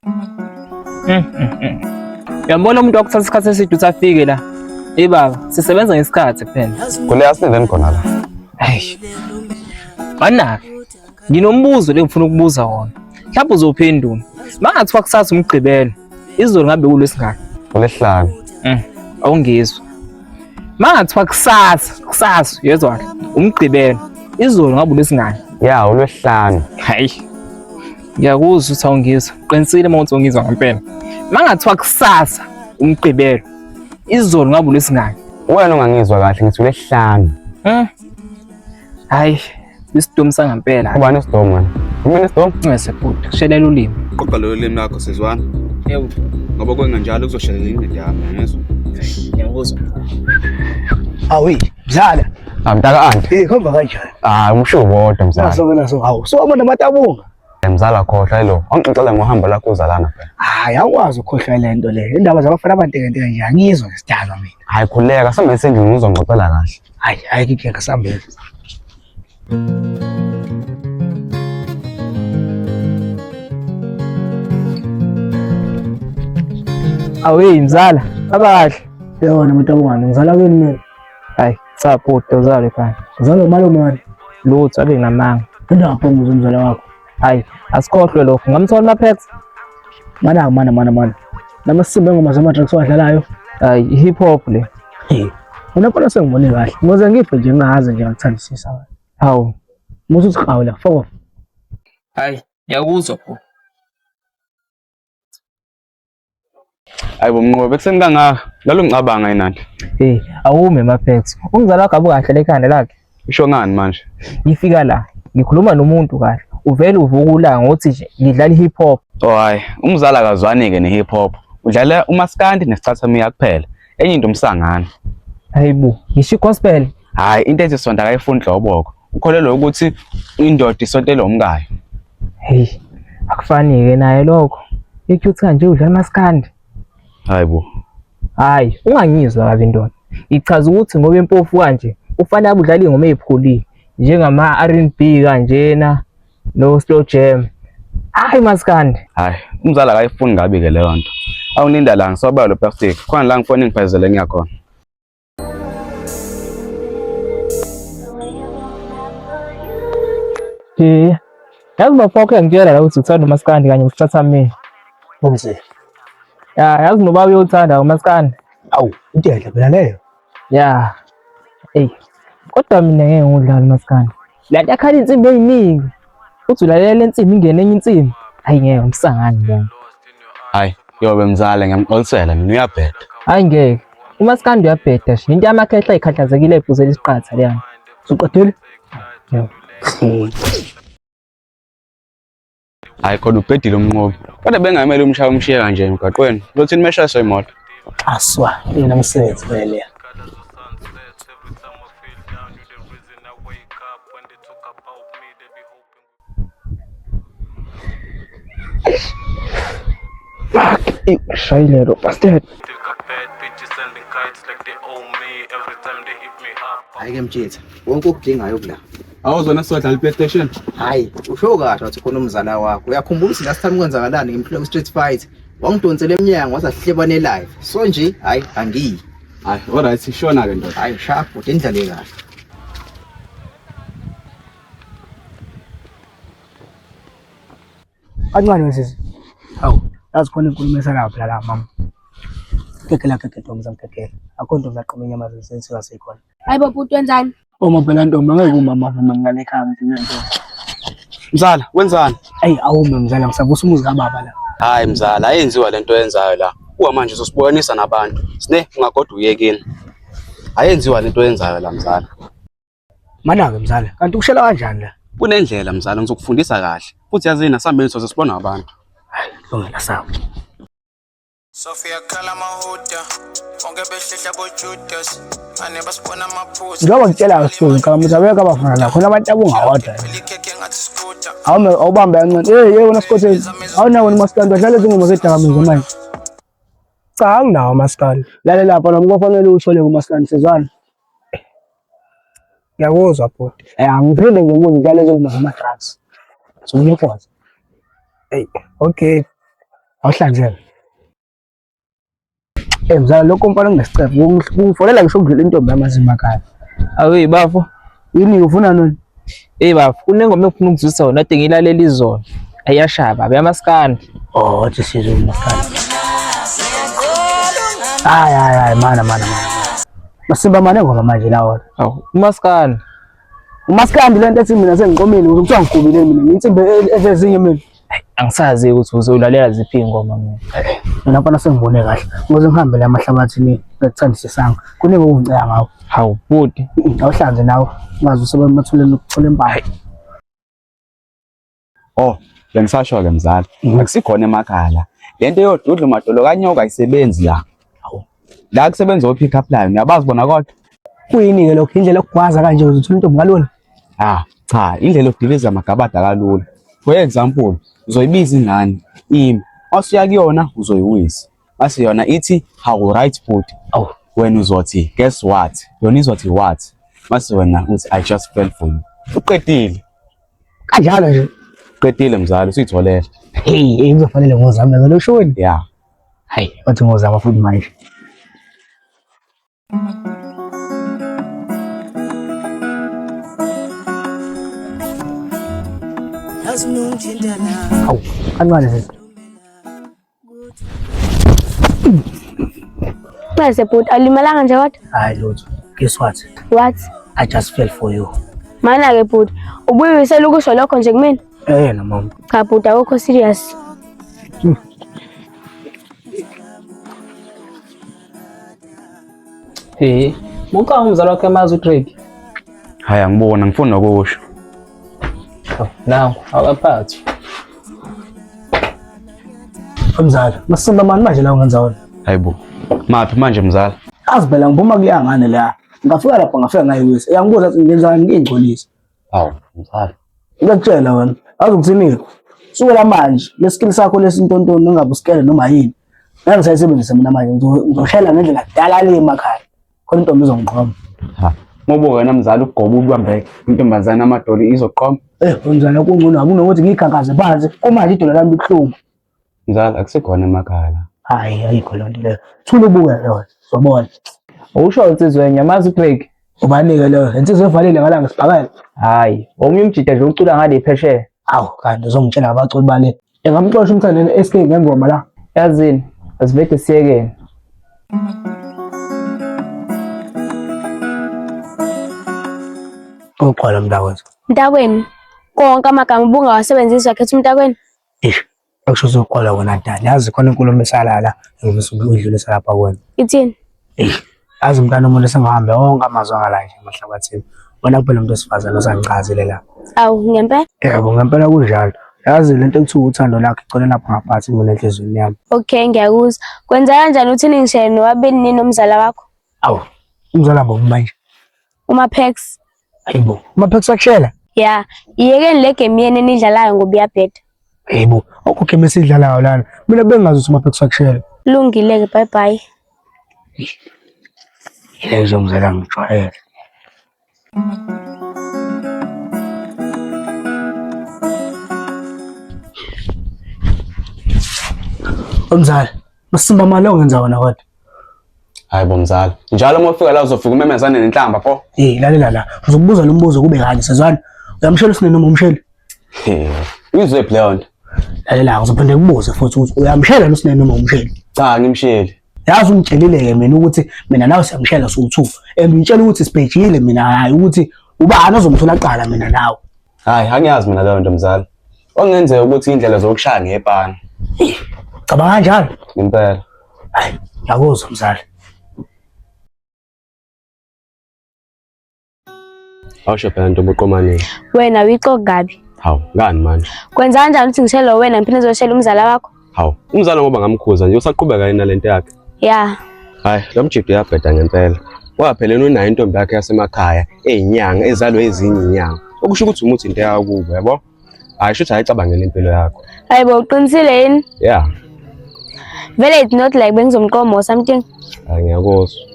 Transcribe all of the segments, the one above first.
Mm, mm, mm. Yambona umuntu wakuthatha isikhathi eside usafike la. Hey baba, sisebenza ngesikhathi kuphela. Kule asinenzeni khona la. Hey. Banake. Nginombuzo lengifuna ukubuza wona. Mhlawumbe uzophendula. Bangathiwa kusasa umgqibelo. Izolo ngabe kulesingaka. Kulesihlanu. Mm. Awungizwa. Mangathiwa kusasa, kusasa yezwa umgqibelo. Izolo ngabe kulesingaka. Ya, ulwesihlanu. Hayi. ngiyakuzwa ukuthi awungizwa qinisile uma uthi ungizwa ngempela mangathiwa kusasa umgqibelo izolo ngabe ulwesingaki wena ungangizwa kahle ngithi ulesihlanu um hayi isidomu sangempela ubani isidomu wena umina isidomu ungese bhuti kushelela ulimi qoqa lolo limi lakho sizwana yebo ngoba kwenganjalo kuzoshelela ingqindi yami ngezwa ngiyakuzwa awi dlala Amtaka ah, anti. Eh khomba kanjani? Ah umsho bodwa mzala. Naso naso hawu. So abantu amatabunga. Eh, mzala khohlwa lo. Angixoxela ngohambo lakho uzalana phela. Hayi awukwazi ukhohlwa le nto le. Indaba zabafana abanteke nto nje angizwa ngesidalwa mina. Hayi khuleka sambe sendini ngizongixoxela kahle. Hayi hayi kike sambe. Thank you. awuyi mzala abakahle yona umuntu abungani ngizala kweni mina Hayi, cha bhuti uzale fana. Uzalo malume wani? Lutho ake ngamanga. Into ngaphonguza umzala wakho. Hayi, asikhohlwe lokho. Ngamthola maphex. Mana mana mana mana. Namasimba engoma zama tracks wadlalayo. Hayi, hip hop le. Hey. Unapona sengibone kahle. Ngoze ngife nje ngaze nje ngithandisisa wena. Hawu. Musu siqhawe la foko. Hayi, yakuzwa bhuti. Hayi bomnqobe ekuseni kangaka lalo ngicabanga enandi. Hey, awume Mapex. Umzala wakho abukahle lekhanda lakhe. Usho ngani manje? Ngifika la, ngikhuluma nomuntu kahle. Uvele uvuka ulanga ngothi nje ngidlala hip hop. Oh hayi, umzala akazwani ke ne hip hop. Udlala umaskandi nesichathamia kuphela. Enye into umsangana. Hayibo, ngisho gospel. Hayi, into ethi sonto akayifuni dloboko. ukholelwa ukuthi indoda isontela umkayo heyi akufani-ke naye lokho i-cute kanje udlala amaskandi hayi bo hhayi ungangizwa kabi ndoda ngichaza ukuthi ngoba impofu kanje ufanele abudlala iy'ngoma ey'phulile njengama-r n b kanjena no-slow jam hhayi maskandi hhayi umzali akayifuni ngabi-ke leyo nto awuninda la ngisobala lo plastic khona la ngifone ngiphezele ngiyakhona Eh, yazi bafo wakhe ngitshela la ukuthi uthanda umaskandi kanye usithatha mina. Umse. Ya, yazi noba uyothanda umaskandi. Awu, into enhle phela leyo. Ya. Ey. Kodwa mina ngeke ngudlala umaskandi. Le nto yakhala insimbi eyiningi. Uthi ulalela le nsimbi ingene enye insimbi. Hayi ngeke umsangani lona. Hayi, yobe mzala ngiyamxolisela mina uyabheda. Hayi ngeke. Uma sikandi uyabheda shi. Into yamakhehla ikhathazekile ibhuzela isiqatha leyana. Suqedile? Yebo. Hayi kodwa ubhedile umnqobi. Kodwa bengamele umshaya umshiye kanje emgaqweni. Lothini mesha soyimoto. Aswa, yena msebenzi vele. Fuck, shayile lo bastard. Hayi ke mjitha, wonke okudingayo kula. Awuzona sodla le PlayStation? Hayi, usho kahle wathi khona umzala wakho. Uyakhumbula ukuthi last time kwenzakalani ngimphile ku Street Fight? Wangidonsela emnyango waza hlebane live. So nje, hayi angiyi. Hayi, alright sishona ke ndoda. Hayi sharp, udendlale kahle. Kancane wesisi. Hawu, yazi khona inkulumo esanayo phela la mama. Kekela kekela ntombi zamkekela. Akho ntombi aqoma inyama zesensi kasekhona. Hayi baba utwenzani? Uma phela ntombi angeke umama avume ngale ekhaya ngithina ntombi. Mzala, wenzani? Ayi awume mzala ngisavusa umuzi kababa la. Hayi mzala, ayenziwa lento oyenzayo la. Kuwa manje uzosiboyanisa nabantu. Sine ungagoda uyekini. Ayenziwa lento oyenzayo la mzala. Manake mzala, kanti ukushela kanjani la? Kunendlela mzala ngizokufundisa kahle. Futhi yazini asambeni soze sibona abantu. Lungela sawo. Sophia khala mahuda bonke behlehla bojudas ane basibona amaphuzu njengoba ngitshela kabuhlungu kalamuza beka abafana la khona abantu abungawadla awume awubambe kancane hey hey wena sikhotheni awunawo ni maskandi badlala izingoma zedakamizwa manje cha anginawo maskandi lalela lapha nami kwafanele uthole kumaskandi sezwana Ngiyakuzwa bhuti. Eh angiphinde ngikubuze njalo njengoba ngama drugs. So ngiyakwazi. Hey, okay. Awuhlanzele. Eh mzala lokho mfana ngesicebo. Kungifolela ngisho ukudlula intombi yamazima kani. Awe bafo. Yini ufuna nini? Hey baba, kunengoma engifuna ukuzwisa yona ade ngilalela izolo. Ayashaya baba, yamaskandi. Oh, wathi sizwe umaskandi. Hayi hayi hayi mana mana mana. Masimba mane ngoma manje lawo. Aw, umaskandi. Umaskandi lento ethi mina sengiqomile ukuthi kuthiwa ngigubile mina. Insimbi evezinye mina. angisazi ukuthi uzolalela ziphi ingoma mina nabona sengibone kahle ngoze ngihambe la mahlabathini ngakuthandisisanga kuningi okungiceya ngawo hawu bhuti awuhlanze nawe ungazi usebamathulela ukuthola impahla oh bengisasho-ke mzala akusikhona emakhala le nto yodudla umadolo kanyoka ayisebenzi la la kusebenza o-pick up line uyabazi bona kodwa kuyini-ke lokho indlela okugwaza kanje uze uthole intombi kalula ah cha indlela okudiliza amagabada kalula for example uzoyibiza ingane imi masuya kuyona uzoyiwisa mase yona ithi how right food oh wena uzothi guess what yona izothi what mase wena uthi i just fell for you uqedile kanjalo nje uqedile mzali usuyitholele hey uzofanele ngozame ngalo shoni yeah Hai, watu ngoza mafundi maisha. Au, anwale sasa. Pese put alimalanga nje what? Hayi lutho. Guess what? What? I just fell for you. Mana ke put. Ubuye uselukisho lokho nje kumina. Eh, na mama. Kaputa uko serious. Hmm. Eh, muka umzala wakhe amazi uDrake. Haya ngibona ngifuna ukusho. Oh, nawu awaphathi. Mzala, masimba mani manje la ungenza wona. Hayibo. Maphi manje mzala? Azi phela ngibuma kuyangane la. Ngafika lapha ngafika ngayiwisa. Yangibuza ukuthi ngenzani ngingcolisa. Hawu, mfana. Ngiyakutshela wena, azi ukuthini-ke. Sukela manje, lesikili sakho lesintontoni ungabe usikele noma yini. Ngeke ngisayisebenzise mina manje, ngizo- ngizoshela ngendlela kudala le emakhaya. Khona intombi izongiqoma. Ha. Ngoba wena mzali ugoba ubambe intombazane amadoli izoqoma. Eh, unjani kungcono akunokuthi ngiyikhankaze phansi. Kumanje idolo lami libuhlungu. Mzala akusikhona emakhaya la. Hayi ayikho loo nto leyo. Thula ubuke lona. Sobona. Usho insizwa enye amazi uCraig. Ubanike leyo. Insizwa evalile ngalanga sibhakela. Hayi, omunye umjita nje ucula ngale phesheya. Awu kanti uzongitshela ngabaculi bale. Engamxosha umthandeni SK ngengoma la. Yazini, asivede siyekeni. Uxola mntakwethu. Mntakwenu, konke amagama ubungawasebenzisi wakhetha umntakwenu, Eish, akusho uzokholwa wena dali. Yazi khona inkulumo emisala la, ngifisa ukuyidlulisa lapha kuwena. Ithini? Eish, yazi umntana umuntu esengihambe wonke amazwi angala nje emahlabathini. Wena kuphela umuntu wesifazane osangichazile la. Awu, ngempela? Yebo, ngempela kunjalo. Yazi le nto ekuthiwa uthando lakho igcwele lapho ngaphansi mina enhliziyweni yami. Okay, ngiyakuzwa. Kwenza kanjani uthini ngishayeni nobabili nini nomzala wakho? Awu, umzala bombi manje. Uma Pax. Hayibo, uma Pax wakushela? Yeah, iyekeni le game yenu enidlalayo ngoba iyabheda. Hayibo, okho game esidlalayo lana. Mina bengazi ukuthi uma Pax wakushela. Lungile ke, bye bye. Ile izongizela ngijwayele. Umzali Masimba mali ongenza wona kodwa. Hayi bo mzala. Njalo uma ufika la uzofika umemezane nenhlamba pho. Eh lalela la. Uzokubuza lo mbuzo kube kanje sezwana. Uyamshela usine noma umsheli? Eh. Uyizwe leyo nto. Lalela uzophinde kubuze futhi ukuthi uyamshela lo usine noma umsheli? Cha ngimsheli. Yazi ungitshelile-ke mina ukuthi mina nawe siyamshela sowu-two and ngitshela ukuthi sibhejile mina hhayi ukuthi ubani ozomthola kuqala mina nawe Hayi, angiyazi mina leyo nto mzala. Okungenzeka ukuthi indlela zokushaya ngepana. Cabanga kanjalo. Impela. Hayi, ngiyakuzwa mzala. Awusho phela ntombi uqomanile. Wena uyixoki kabi. Hawu, ngani manje? Kwenza kanjani ukuthi ngishele wena ngiphinde ngizoshela umzala wakho? Hawu, umzala ngoba ngamkhuza nje usaqhubeka yena lento yakhe. Yeah. Hayi, lo mjidi uyabheda ngempela. Waphelelwa unayo intombi yakhe yasemakhaya eyinyanga ezalwe ezinye inyanga. Okusho ukuthi umuthi into yawo kubo, yabo? Hayi, shuthi ayicabangele impilo yakho. Hayi bo uqinisile yini? Yeah. Vele it's not like bengizomqoma or something. Hayi ngiyakuzwa.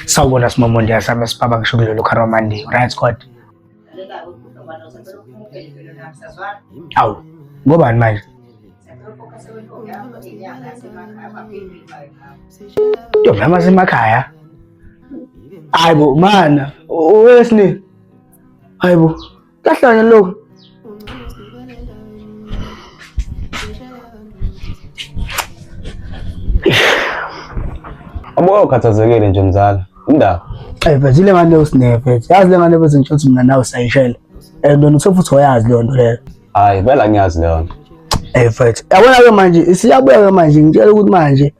Sawubona simomo ndiyasaba sibaba ngisho kulelo kharamandi right squad awu ngobani manje ntombi yami asemakhaya hayi bo mana owesini hayi bo Kahle wena lo. Abuka ukhathazekile nje mzala. Indaba. Eh but ile ngane usineve. Yazi le ngane bese ngisho ukuthi mina nawe sayishela. Eh lona usefuthi oyazi leyo nto leyo. Hayi, bela ngiyazi leyo nto. Eh mfethu, yabona ke manje isiyabuya ke manje ngitshela ukuthi manje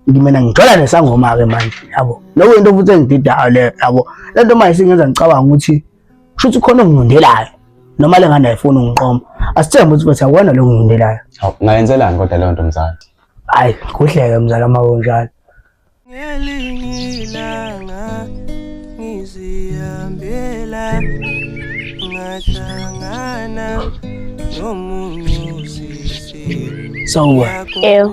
ngimena ngithola nesangoma ke manje yabo. Lokho into futhi engididayo le yabo. Lento manje singenza ngicabanga ukuthi kusho ukuthi khona ongilindelayo noma le ngane ayifuni ungiqoma asithembe ukuthi bathi akona lo ngilindelayo ngayenzelani kodwa leyo nto mzala hayi kuhleke mzala uma kunjalo ngelingilanga ngizihambela ngahlangana nomunye Sawubona. Ew.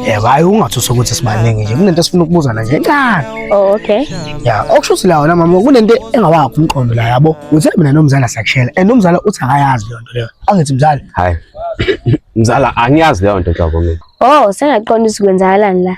Yebo, hayi ungathusa ukuthi sibaningi nje. Kunento esifuna ukubuzana nje encane. Oh, okay. Ya, okusho ukuthi la wona mama kunento engawakho umqondo la yabo. Uthe mina nomzala siyakushela. And umzala uthi akayazi leyo nto leyo. Angithi mzala. Hayi. Mzala angiyazi leyo nto nhlobo mina. Oh, sengaqonda ukuthi kwenzakalani la.